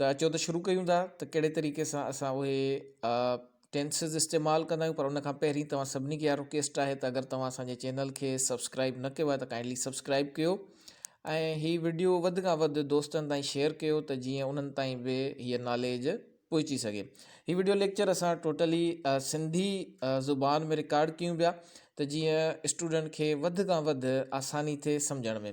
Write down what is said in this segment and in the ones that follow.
ته اچو ته شروع ڪيون ٿا ته ڪهڙي طريقي سان اسان اهي ٽينسز استعمال ڪندا آهيون پر ان کان پهرين توهان سڀني کي رڪويسٽ آهي ته اگر توهان اسان جي چينل کي سبسڪرائب نه ڪيو آهي ته ڪائنڊلي سبسڪرائب ڪيو ۽ هي ويڊيو وڌ کان وڌ دوستن تائين شيئر ڪيو ته جيئن انهن تائين به هيء ناليج پهچي سگهي هي ويڊيو ليڪچر اسان ٽوٽلي سنڌي زبان ۾ رڪارڊ ڪيون پيا ته جيئن اسٽوڊنٽ کي وڌ کان وڌ آساني ٿئي سمجھڻ ۾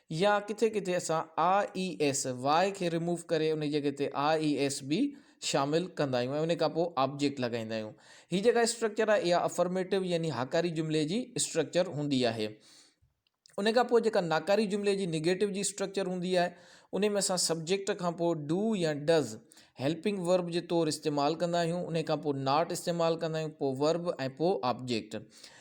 يا ڪٿي ڪٿي اسان آء اي ايس واء کي ريموو ڪري انهي جڳهه تي آء اي ايس به شامل ڪندا آهيون ۽ انهي کان پوء آبجيڪٽ لڳائيندا آهيون. هي جيڪا اسٽرڪچر آهي اها افرميٽو يعني هاڪاري جملي جي اسٽرڪچر هوندي آهي. انهي کان پوء جيڪا ناڪاري جملي جي نيگيٽو جي اسٽرڪچر هوندي آهي انهي ۾ اسان سبجيڪٽ کان پوء ڊو يا ڊز هيلپنگ ورب جي طور استعمال ڪندا آهيون. انهي کان پوء ناٽ استعمال ڪندا آهيون پوء ورب ۽ پوء آبجيڪٽ.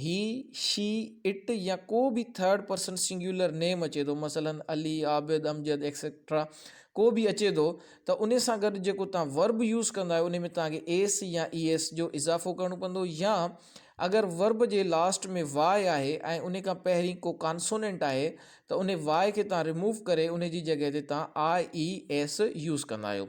هي، شي، اٽ يا ڪو به ٿرڊ پرسن سنگيولر نيم اچي ٿو مثلاً علي، عابد، امجد ايڪسيڪٽرا ڪو به اچي ٿو ته ان سان گڏ جيڪو توهان ورب يوز ڪندا آهيو ان ۾ توهان کي ايس يا اي ايس جو اضافو ڪرڻو پوندو يا اگر ورب جي لاسٽ ۾ واء آهي ۽ ان کان پهرين ڪو ڪانسونينٽ آهي ته ان واء کي توهان رموو ڪري ان جي جڳهه تي توهان آء اي ايس يوز ڪندا آهيو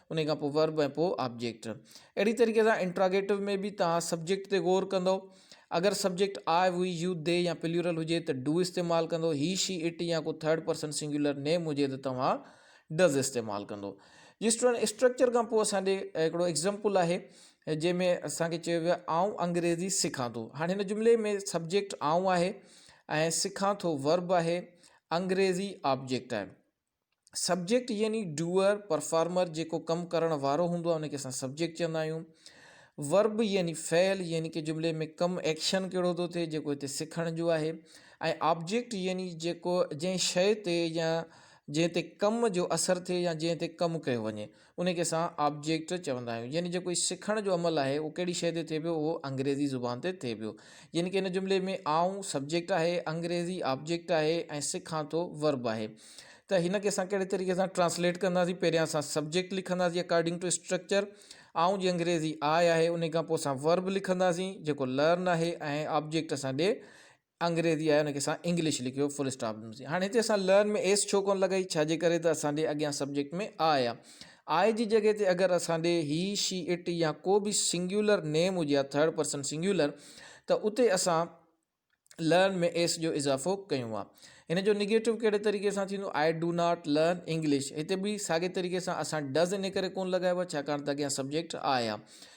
انهي کان پوء Verb ۽ پوء Object. اهڙي طريقي سان انٽراگيٽو ۾ به توهان سبجيڪٽ تي غور ڪندؤ. اگر subject I, We, You, They يا پليورل هجي ته Do استعمال ڪندؤ. He, She, It يا ڪو ٿرڊ پرسن سنگيولر نيم هجي ته توهان Does استعمال ڪندؤ. جس طرح اسٽرڪچر کان پوء اسان ڏي هڪڙو ايگزامپل آهي جنهن ۾ اسان کي چيو ويو آهي آئون انگريزي سکان ٿو. هاڻي هن جملي ۾ سبجيڪٽ آئون آهي ۽ سکان ٿو Verb آهي، انگريزي Object آهي. سبجيڪٽ يعني ڊوئر، پرفارمر، جيڪو ڪم ڪرڻ وارو هوندو آهي ان کي اسان سبجيڪٽ چوندا آهيون. ورب يعني فعل يعني ڪنهن جملي ۾ ڪم، ايڪشن، ڪهڙو ٿو ٿئي جيڪو هتي سکڻ جو آهي ۽ آبجيڪٽ يعني جيڪو جنهن شيء تي يا جنهن تي ڪم جو اثر ٿئي يا جنهن تي ڪم ڪيو وڃي. انهي کي اسان آبجيڪٽ چوندا آهيون يعني جيڪو هي سکڻ جو عمل آهي اهو ڪهڙي شيء تي ٿئي پيو اهو انگريزي زبان تي ٿئي پيو يعني ڪه هن جملي ۾ آئون سبجيڪٽ آهي انگريزي آبجيڪٽ آهي ۽ سکان ٿو ورب آهي ته هن کي اسان ڪهڙي طريقي سان ٽرانسليٽ ڪنداسين پهريان اسان سبجيڪٽ لکنداسين اڪارڊنگ ٽو اسٽرڪچر آئون جي انگريزي آء آهي انهي کان پوء اسان ورب لکنداسين جيڪو لرن آهي ۽ آبجيڪٽ اسان ڏي انگريزي آهي ان کي اسان انگلش لکيو فل اسٽاپ ڏنو سي هاڻي هتي اسان لرن ۾ ايس ڇو ڪونه لڳائي ڇا جي ڪري ته اسان ڏي اڳيان سبجيڪٽ ۾ آء آ آء جي جڳهه تي اگر اسان ڏي هي شي اٽ يا ڪو به سنگيولر نيم هجي ها ٿرڊ پرسن سنگيولر ته اتي اسان لرن ۾ ايس جو اضافو ڪيون ها ان جو نيگيٽو ڪهڙي طريقي سان ٿيندو I do not learn English هتي به ساڳي طريقي سان اسان ڊز ان ڪري ڪونه لڳايو ڇاڪاڻ ته اڳيان سبجيڪٽ آء آ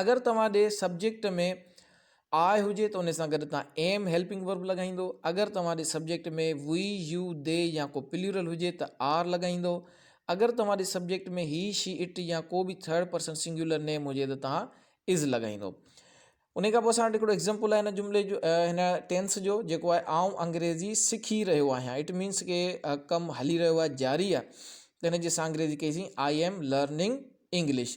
اگر توهان ڏي سبجيڪٽ ۾ آء هجي ته ان سان گڏ توهان ايم هيلپنگ ورب لڳائيندو اگر توهان the subject ۾ we you they يا ڪو پليورل هجي ته آر لڳائيندو اگر توهان the subject ۾ he she it يا ڪو به ٿرڊ پرسن سنگيولر نيم هجي ته توهان از لڳائيندو ان کان پوء اسان وٽ هڪڙو ايگزامپل آهي هن جملي جو هن ٽينس جو جيڪو آهي آئون انگريزي سکي رهيو آهيان اٽ مينس ڪي ڪم هلي رهيو آهي جاري آهي ته هن جي اسان انگريزي ڪئيسين I am learning English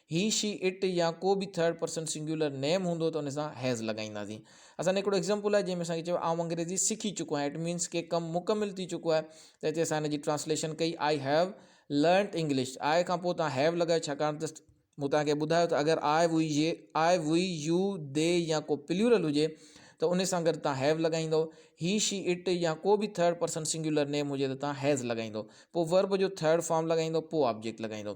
he, she, it يا ڪو به ٿرڊ پرسن سنگيولر نيم هوندو ته ان سان هيز لڳائينداسين. اسان هڪڙو ايگزامپل آهي جنهن ۾ اسان کي چئبو آئون انگريزي سکي چڪو آهيان اٽ مينس ڪي ڪم مڪمل ٿي چڪو آهي ته هتي اسان ان جي ٽرانسليشن ڪئي آئي هيو لرنٽ انگلش آء کان پوء توهان هيو لڳايو ڇاڪاڻ ته مون توهان کي ٻڌايو ته اگر آء هجي آء وي يو دي يا ڪو پليورل هجي ته ان سان گڏ توهان هيو لڳائيندو هي شي اٽ يا ڪو به ٿرڊ پرسن سنگيولر نيم هجي ته توهان هيز لڳائيندو پوء ورب جو ٿرڊ فارم لڳائيندو پوء آبجيڪٽ لڳائيندو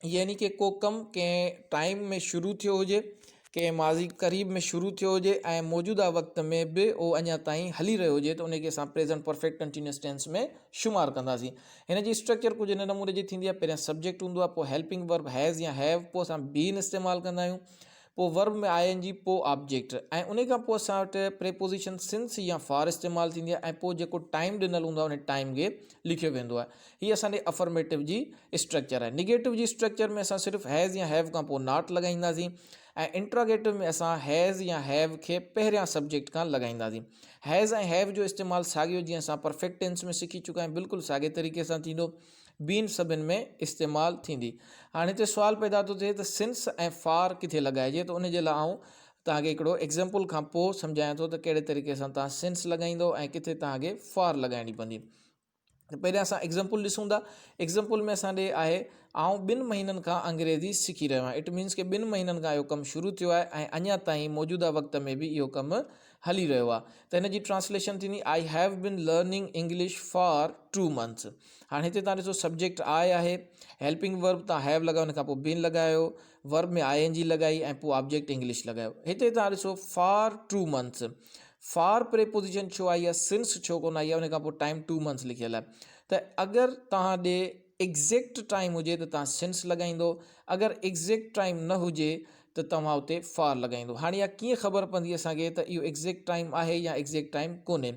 يعني ڪي ڪو ڪم ڪنهن ٽائيم ۾ شروع ٿيو هجي ڪنهن ماضي قريب ۾ شروع ٿيو هجي ۽ موجوده وقت ۾ به هو اڃا تائين هلي رهيو هجي ته ان کي اسان پريزنٽ پرفيڪٽ ڪنٽينيوس ٽينس ۾ شمار ڪنداسين هن جي اسٽرڪچر ڪجهه هن نموني جي ٿيندي آهي پهريان سبجيڪٽ هوندو آهي پوء هيلپنگ ورب هيز يا هيو پوء اسان بين استعمال ڪندا آهيون پوء ورب ۾ آء اين جي پوء آبجيڪٽ ۽ انهي کان پوء اسان وٽ پريپوزيشن سنس يا فار استعمال ٿيندي آهي ۽ پوء جيڪو ٽائيم ڏنل هوندو آهي ان ٽائيم کي لکيو ويندو آهي هي اسان ڏي افرميٽو جي اسٽرڪچر آهي نيگيٽو جي اسٽرڪچر ۾ اسان صرف هيز يا هيو کان پوء ناٽ لڳائينداسين ۽ انٽراگيٽو ۾ اسان هيز يا هيو کي پهريان سبجيڪٽ کان لڳائينداسين هيز ۽ هيو جو استعمال ساڳيو جيئن اسان پرفيڪٽ ٽينس ۾ سکي چڪا آهيون بلڪل ساڳي طريقي سان ٿيندو بين سبين ۾ استعمال ٿيندي. هاڻي هتي سوال پيدا ٿو ٿئي ته Since ۽ For ڪٿي لڳائجي ته ان جي لاء آئون توهان کي هڪڙو Example کان پوء سمجهايان ٿو ته ڪهڙي طريقي سان توهان Since لڳائيندو ۽ ڪٿي توهان کي For لڳائڻي پوندي. ته پهريان اسان Example ڏسون ٿا. Example ۾ اسان ڏي آهي آئون ٻن مهينن کان انگريزي سکي رهيو آهيان. It means ڪي ٻن مهينن کان اهو ڪم شروع ٿيو آهي ۽ اڃا تائين موجوده وقت ۾ به اهو ڪم هلي رهيو آ ته هن جي ٽرانسليشن ٿيندي I have been learning English for two months هاڻي هتي تان ڏسو سبجيڪٽ آئي آهي هيلپنگ ورب تان هيو لڳايو ان کان پوء بين لڳايو ورب ۾ آئي ان جي لڳائي ۽ پوء آبجيڪٽ انگلش لڳايو هتي تان ڏسو for two months for preposition ڇو آئي آ سنس ڇو ڪون آئي آ ان کان پوء ٽائم ٽو منٿس لکيل آهي ته اگر تان ڏي ايگزيڪٽ ٽائيم هجي ته توهان سنس لڳائيندو اگر ايگزيڪٽ ٽائيم نه هجي ته توهان اتي فار لڳائيندو هاڻي اها ڪيئن خبر پوندي اسان کي ته اهو ايگزيڪٽ ٽائيم آهي يا ايگزيڪٽ ٽائيم ڪونهي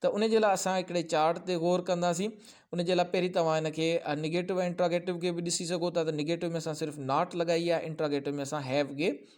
ته ان جي لاء اسان هڪڙي چارٽ تي غور ڪنداسين ان جي لاء پهرين توهان ان کي نيگيٽو ۽ انٽراگيٽو کي به ڏسي سگهو ٿا ته نيگيٽو ۾ اسان صرف ناٽ لڳائي آهي انٽراگيٽو ۾ اسان هيو کي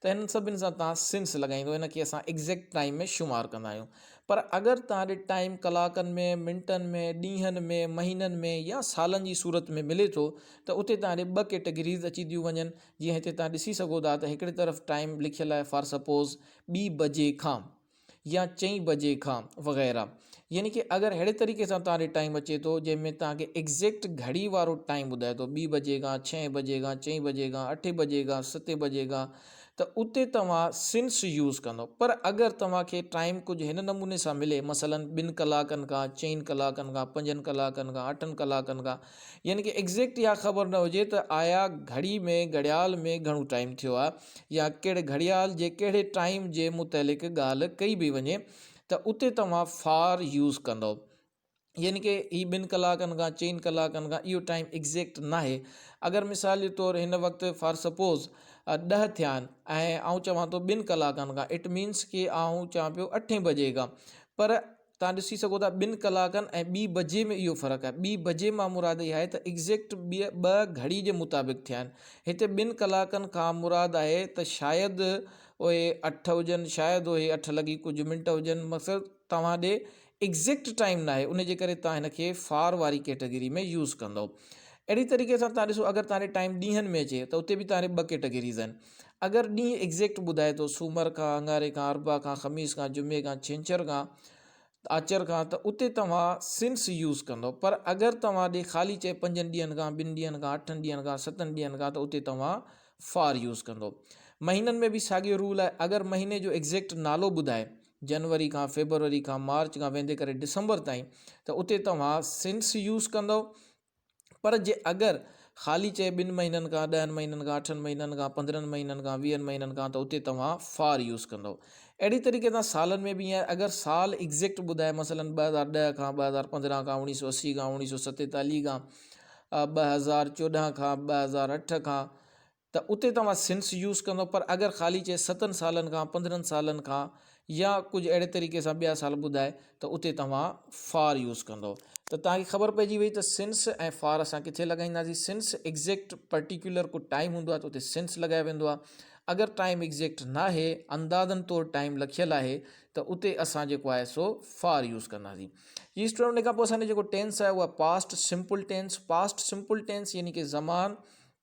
ته هنن سڀني سان توهان سنس لڳائيندو هن کي اسان ايگزيڪٽ ٽائيم ۾ شمار ڪندا آهيون پر اگر توهان ڏي ٽائيم ڪلاڪن ۾ منٽن ۾ ڏينهن ۾ مهينن ۾ يا سالن جي صورت ۾ ملي ٿو ته اتي توهان ڏي ٻه ڪيٽيگريز اچي ٿيون وڃن جيئن هتي توهان ڏسي سگهو ٿا ته هڪڙي طرف ٽائيم لکيل آهي فار سپوز ٻي بجي کان يا چئين بجي کان وغيره يعني ڪي اگر اهڙي طريقي سان تان ڏي ٽائيم اچي ٿو جنهن ۾ تان کي ايگزيڪٽ گهڙي وارو ٽائيم ٻڌائي ٿو ٻي بجي کان ڇهين بجي کان چئين بجي کان اٺين بجي کان ستين بجي کان ته اتي توهان سنس يوز ڪندو پر اگر توهان کي ٽائيم ڪجهه هن نموني سان ملي مثلا ٻن ڪلاڪن کان چئين ڪلاڪن کان پنجن ڪلاڪن کان اٺن ڪلاڪن کان يعني ڪي ايگزيڪٽ اها خبر نه هجي ته آيا گهڙي ۾ گهڙيال ۾ گهڻو ٽائيم ٿيو آهي يا ڪهڙي گهڙيال جي ڪهڙي ٽائيم جي متعلق ڳالهه ڪئي به وڃي ته اتي توهان فار يوز ڪندئو يعني ڪي هي ٻن ڪلاڪن کان چئن ڪلاڪن کان اهو ٽائيم ايگزيڪٽ نه آهي اگر مثال جي طور هن وقت فار سپوز ڏهه ٿيا آهن ۽ آئون چوان ٿو ٻن ڪلاڪن کان اٽ مينس ڪي آئون چوان پيو اٺين بجي کان پر توهان ڏسي سگهو ٿا ٻن ڪلاڪن ۽ ٻي بجي ۾ اهو فرق آهي ٻي بجي مان مراد اها آهي ته ايگزيڪٽ ٻه گهڙي جي مطابق ٿيا آهن هتي ٻن ڪلاڪن کان مراد آهي ته شايد اهي اٺ هجن شايد اهي اٺ لڳي ڪجهه منٽ هجن مقصد توهان ڏي ايگزيڪٽ ٽائيم ناهي ان جي ڪري توهان هن کي فار واري ڪيٽيگري ۾ يوز ڪندو اهڙي طريقي سان توهان ڏسو اگر توهان ڏي ٽائيم ڏينهن ۾ اچي ته اتي به توهان ڏي ٻه ڪيٽيگريز آهن اگر ڏينهن ايگزيڪٽ ٻڌائي ٿو سومر کان اڱاري کان اربع کان خميس کان جمعي کان ڇنڇر کان آچر کان ته اتي توهان سنس يوز ڪندو پر اگر توهان ڏي خالي چئي پنجن ڏينهن کان ٻن ڏينهن کان اٺن ڏينهن کان ستن ڏينهن کان ته اتي توهان فار يوز ڪندو مهينن ۾ به ساڳيو رول آهي اگر مهيني جو ايگزيڪٽ نالو ٻڌائي جنوري کان فيبروري کان مارچ کان ويندي ڪري ڊسمبر تائين ته اتي توهان سنس يوز ڪندو پر جي اگر خالي چئي ٻن مهينن کان ڏهن مهينن کان اٺن مهينن کان پندرهن مهينن کان ويهن مهينن کان ته اتي توهان فار يوز ڪندو اهڙي طريقي سان سالن ۾ به ائين اگر سال ايگزيڪٽ ٻڌائي مثلا ٻه هزار ڏهه کان ٻه هزار پندرهن کان اوڻيهه سو اسي کان اوڻيهه سو ستيتاليهه کان ٻه هزار چوڏهن کان ٻه هزار اٺ کان ته اتي توهان سنس يوز ڪندو پر اگر خالي چئي ستن سالن کان پندرهن سالن کان يا ڪجهه اهڙي طريقي سان ٻيا سال ٻڌائي ته اتي توهان فار يوز ڪندو ته توهان کي خبر پئجي وئي ته سنس ۽ فار اسان ڪٿي لڳائينداسين سنس ايگزيڪٽ پرٽيڪيولر ڪو ٽائيم هوندو آهي ته اتي سنس لڳايو ويندو آهي اگر ٽائيم ايگزيڪٽ ناهي اندازن طور ٽائيم لکيل آهي ته اتي اسان جيڪو آهي سو فار يوز ڪنداسين جي اسٽوڊنٽ ان کان پوء اسان جو جيڪو ٽينس آهي اهو past simple tense past simple tense يعني ڪي زمان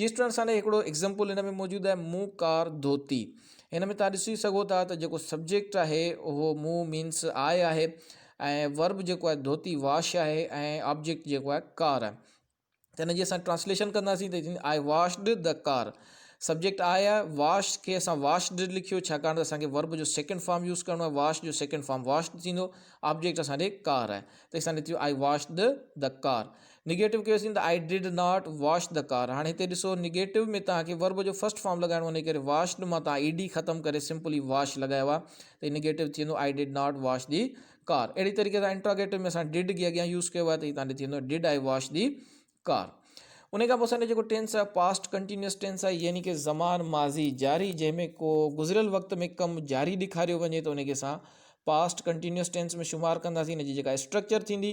جس طرح سان هڪڙو ايگزامپل هن ۾ موجود آهي مون ڪار ڌوتي هن ۾ تهان ڏسي سگهو ٿا ته جيڪو سبجيڪٽ آهي اهو مون مينس آء آهي ۽ ورب جيڪو آهي ڌوتي واش آهي ۽ آبجيڪٽ جيڪو آهي ڪار آهي ته هن جي اسان ٽرانسليشن ڪنداسين ته I washed the car subject I آهي واش کي اسان واشڊ لکيو ڇاڪاڻ ته اسانکي ورب جو سيڪنڊ فارم يوز ڪرڻو آهي واش جو سيڪنڊ فارم واشڊ ٿيندو آبجيڪٽ اسان ڏي ڪار آهي ته اسان ڏي I washed the car negative ڪيوسين ته I did not wash the car هاڻي هتي ڏسو نيگيٽو ۾ توهان کي ورب جو فرسٽ فارم لڳائڻو انهي ڪري واشڊ مان توهان اي ڊي ختم ڪري سمپلي واش لڳايو آهي ته نيگيٽو ٿي ويندو I did not wash the car اهڙي طريقي سان انٽراگيٽو ۾ اسان ڊڊ جي اڳيان يوز ڪيو آهي ته هتان ڏي ٿي ويندو did I wash the car ان کان پوء اسان جو جيڪو ٽينس آهي پاسٽ ڪنٽينيوس ٽينس آهي يعني ڪي زمان ماضي جاري جنهن ۾ ڪو گذريل وقت ۾ ڪم جاري ڏيکاريو وڃي ته ان کي اسان پاسٽ ڪنٽينيوس ٽينس ۾ شمار ڪنداسين ان جي جيڪا اسٽرڪچر ٿيندي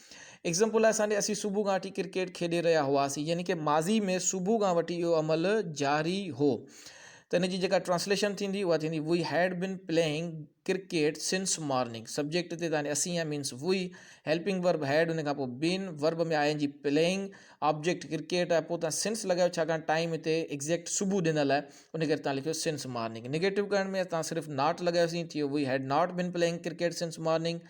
ايگزامپل لاء سانڊي اسين صبح کان وٺي ڪرڪيٽ کيڏي رهيا هئاسين يعني کہ ماضي ۾ صبح کان وٺي اهو عمل جاري هو ته ان جي جيڪا ٽرانسليشن ٿيندي اها ٿيندي we had been playing cricket since morning subject تي تاني اسين آهي means we helping verb had ان کان پوء بن ورب ۾ آئي جي پليئنگ آبجيڪٽ ڪرڪيٽ آهي پوء تان سنس لڳايو ڇاڪاڻ ٽائم هتي ايگزيڪٽ صبح ڏنل آهي ان ڪري تان لکيو سنس مارننگ نيگيٽو ڪرڻ ۾ تان صرف ناٽ لڳايوسين ٿيو we had not been playing cricket since morning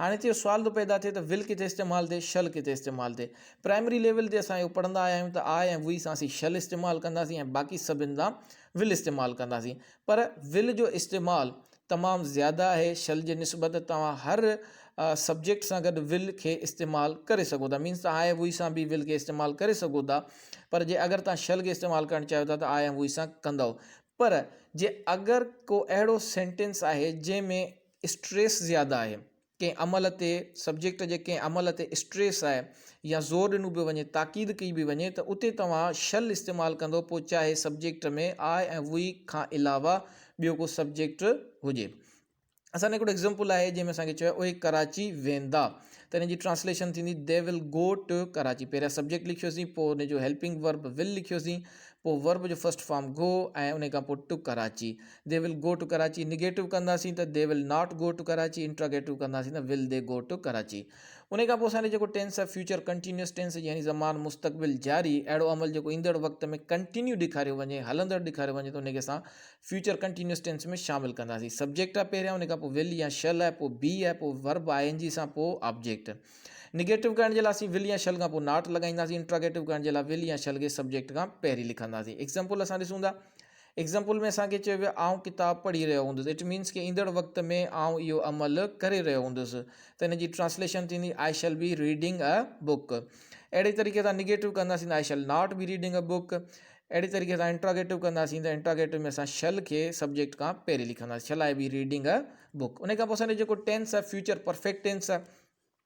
هاڻي هتي اهو سوال ٿو پيدا ٿئي ته ول ڪٿي استعمال ٿئي شل ڪٿي استعمال ٿئي پرائمري ليول تي اسان اهو پڙهندا آيا آهيون ته آء ۽ وي سان اسين شل استعمال ڪنداسين ۽ باقي سڀن سان ول استعمال ڪنداسين پر ول جو استعمال تمام زياده آهي شل جي نسبت توهان هر سبجيڪٽ سان گڏ ول کي استعمال ڪري سگهو ٿا مينس تان آء ۽ وي سان به ول کي استعمال ڪري سگهو ٿا پر جي اگر تان شل کي استعمال ڪرڻ چاهيو ٿا ته آء ۽ وي سان ڪندو پر جي اگر ڪو اهڙو سينٽينس آهي جنهن ۾ اسٽريس زياده آهي ڪنهن عمل تي سبجيڪٽ جي ڪنهن عمل تي اسٽريس آهي يا زور ڏنو به وڃي تاڪيد ڪئي به وڃي ته اتي توهان شل استعمال ڪندو پوء چاهي سبجيڪٽ ۾ آء ۽ وي کان علاوه ٻيو ڪو سبجيڪٽ هجي اسان لاء هڪڙو ايگزامپل آهي جنهن ۾ اسان کي چيو آهي اهي ڪراچي ويندا ته هن جي ٽرانسليشن ٿيندي they will go to Karachi پهريان سبجيڪٽ لکيوسين پوء ان جو هيلپنگ ورب ول لکيوسين پوء ورب جو فرسٽ فارم گو ۽ ان کان پوء to Karachi they will go to Karachi negative ڪنداسين ته they will not go to Karachi interrogative ڪنداسين ته will they go to Karachi ان کان پوء اسان جو جيڪو ٽينس آهي فيوچر ڪنٽينيوس ٽينس يعني زمان مستقبل جاري اهڙو عمل جيڪو ايندڙ وقت ۾ ڪنٽينيو ڏيکاريو وڃي هلندڙ ڏيکاريو وڃي ته ان کي اسان فيوچر ڪنٽينيوس ٽينس ۾ شامل ڪنداسين سبجيڪٽ آهي پهريان ان کان پوء ول يا شل آهي پوء بي آهي پوء ورب آء اين جي سان پوء آبجيڪٽ نيگيٽو ڪرڻ جي لاء اسين ول يا شل کان پوء ناٽ لڳائينداسين انٽراگيٽو ڪرڻ جي لاء ول يا شل کي سبجيڪٽ کان پهرين لکنداسين ايگزامپل اسان ڏسون ٿا ايگزامپل ۾ اسان کي چيو ويو آئون ڪتاب پڙهي رهيو هوندس اٽ مينس ڪي ايندڙ وقت ۾ آئون اهو عمل ڪري رهيو هوندس ته ان جي ٽرانسليشن ٿيندي I shall be reading a book اهڙي طريقي سان نيگيٽو ڪنداسين I shall not be reading a book اهڙي طريقي سان انٽراگيٽو ڪنداسين ته انٽراگيٽو ۾ اسان شيل کي سبجيڪٽ کان پهرين لکنداسين shall I be reading a book ان کان پوء اسان جو جيڪو ٽينس آهي فيوچر پرفيڪٽ ٽينس آهي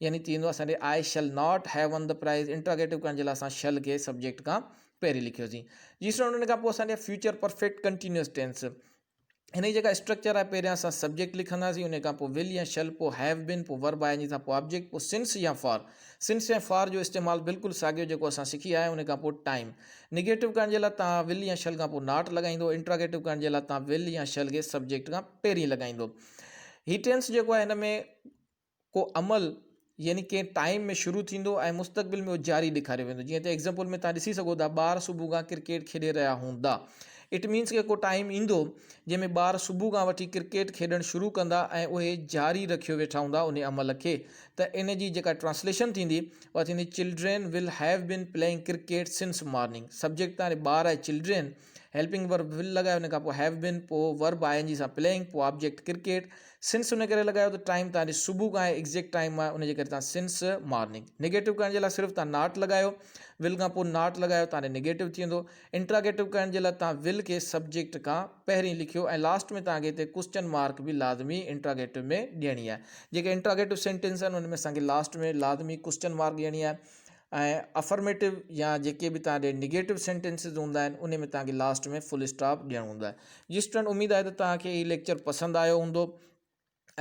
يعني ٿيندو اسان ڏي I shall not have won the prize interrogative ڪرڻ جي لاء اسان شل کي سبجيڪٽ کان پهرين لکيوسين جي اسٽوڊنٽ ان کان پوء اسان ڏي فيوچر پرفيڪٽ ڪنٽينيوس ٽينس هن جي جيڪا اسٽرڪچر آهي پهريان اسان سبجيڪٽ لکنداسين ان کان پوء ول يا شل پوء هيو بين پوء ورب آء ان جي سان پوء آبجيڪٽ پوء سنس يا فار سنس ۽ فار جو استعمال بلڪل ساڳيو جيڪو اسان سکي آيا ان کان پوء ٽائيم نيگيٽو ڪرڻ جي لاء توهان ول يا شل کان پوء ناٽ لڳائيندو انٽراگيٽو ڪرڻ جي لاء توهان ول يا شل کي سبجيڪٽ کان پهرين لڳائيندو هي ٽينس جيڪو آهي هن ۾ ڪو عمل يعني ڪنهن ٽائيم ۾ شروع ٿيندو ۽ مستقبل ۾ جاري ڏيکاريو ويندو جيئن تي ايگزامپل ۾ تهان ڏسي سگهو ٿا ٻار صبح کان ڪرڪيٽ کيڏي رهيا هوندا اٽ مينس ڪو ٽائيم ايندو جنهن ۾ ٻار صبح کان وٺي ڪرڪيٽ کيڏڻ شروع ڪندا ۽ اهي جاري رکيو ويٺا هوندا ان عمل کي ته ان جي جيڪا ٽرانسليشن ٿيندي اها ٿيندي children will have been playing cricket since morning subject تهان ٻار آهي چلڊرين هيلپنگ ورب ول لڳايو ان کان پوء هيو بين پوء ورب آء اين جي سان پلينگ پوء آبجيڪٽ ڪرڪيٽ سنس ان ڪري لڳايو ته ٽائيم تان جي صبح کان آهي ايگزيڪٽ ٽائيم آهي ان جي ڪري تان سنس مارننگ نيگيٽو ڪرڻ جي لاء صرف تان ناٽ لڳايو ول کان پوء ناٽ لڳايو تان نيگيٽو ٿي ويندو انٽراگيٽو ڪرڻ جي لاء تان ول کي سبجيڪٽ کان پهرين لکيو ۽ لاسٽ ۾ تان کي هتي ڪوسچن مارڪ به لازمي انٽراگيٽو ۾ ڏيڻي آهي جيڪي انٽراگيٽو سينٽينس آهن ان ۾ اسان کي لاسٽ ۾ لازمي ڪوسچن مارڪ ڏيڻي آهي ۽ افرميٽو يا جيڪي به توهان ڏي نيگيٽو سينٽينسز هوندا آهن ان ۾ توهان کي لاسٽ ۾ فل اسٽاپ ڏيڻو هوندو آهي جي اسٽوڊنٽ اميد آهي ته توهان کي هي ليڪچر پسند آيو هوندو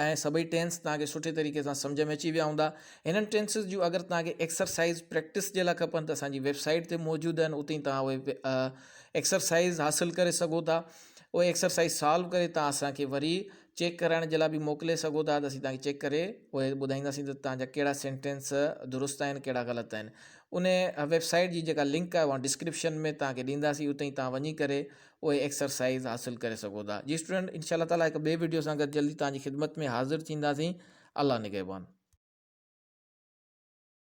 ۽ سڀئي ٽينس توهان کي سٺي طريقي سان سمجھ ۾ اچي ويا هوندا هنن ٽينسز جون اگر توهان کي ايڪسرسائز پريڪٽس جي لاء کپن ته اسان جي ويب سائيٽ تي موجود آهن اتي توهان اهي ايڪسرسائز حاصل ڪري سگهو ٿا اهي ايڪسرسائز سالو ڪري توهان اسان کي وري چيڪ ڪرائڻ جي لاء به موڪلي سگهو ٿا ته اسين تهان کي چيڪ ڪري پوء ٻڌائينداسين ته تهان جا ڪهڙا سينٽينس درست آهن ڪهڙا غلط آهن ان ويبسائيٽ جي جيڪا لنڪ آهي اها ڊسڪرپشن ۾ تهان کي ڏينداسين اتي تهان وڃي ڪري اهي ايڪسرسائيز حاصل ڪري سگهو ٿا جي اسٽوڊنٽ انشاء الله تعالٰي هڪ ٻئي ويڊيو سان گڏ جلدي تهان جي خدمت ۾ حاضر ٿينداسين الله نگهبان